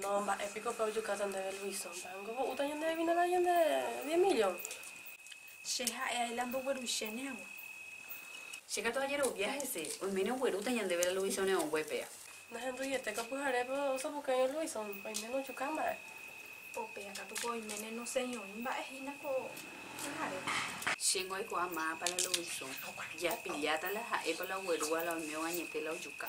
No, mba'e piko pe ojukáta ndéve Luiso, mba'éngo ho'úta ñande vinagre ñande diez millón. Che ha'e ae la ndogueruichéne hag̃ua. Che katu ajerovia hese, oiméne oguerúta ñandéve la Luiso neongue péa. Nahenduiete ko pyharépe osapukaiño Luiso, oiméne ojuka mba'e. Ko péa katu ko oiméne noseñoĩ mba'e hína ko pyharépe. Chéngo aikuaa máapa la Luiso japilláta la ha'épa la oguerúva la oimévo añete la ojuka.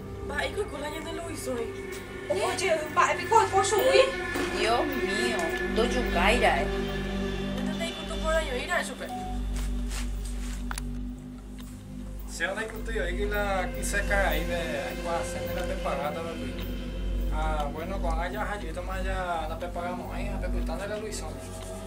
Mba'éiko ko la ñande Luisõi? Oho jey, mba'e piko oiko chugui? Dios mío, ndojukái ra'e. Ñande ndaikutu porãjo'i ra'e chupe. Chéva ndaikutúi oĩgui la kyse ka'aíve aikuaase nde napepagáta la Luis. Ha, bueno, ko'ág̃a jaha jeýtama ja napepagamo'ãi ha pepyta nde la Luisõi.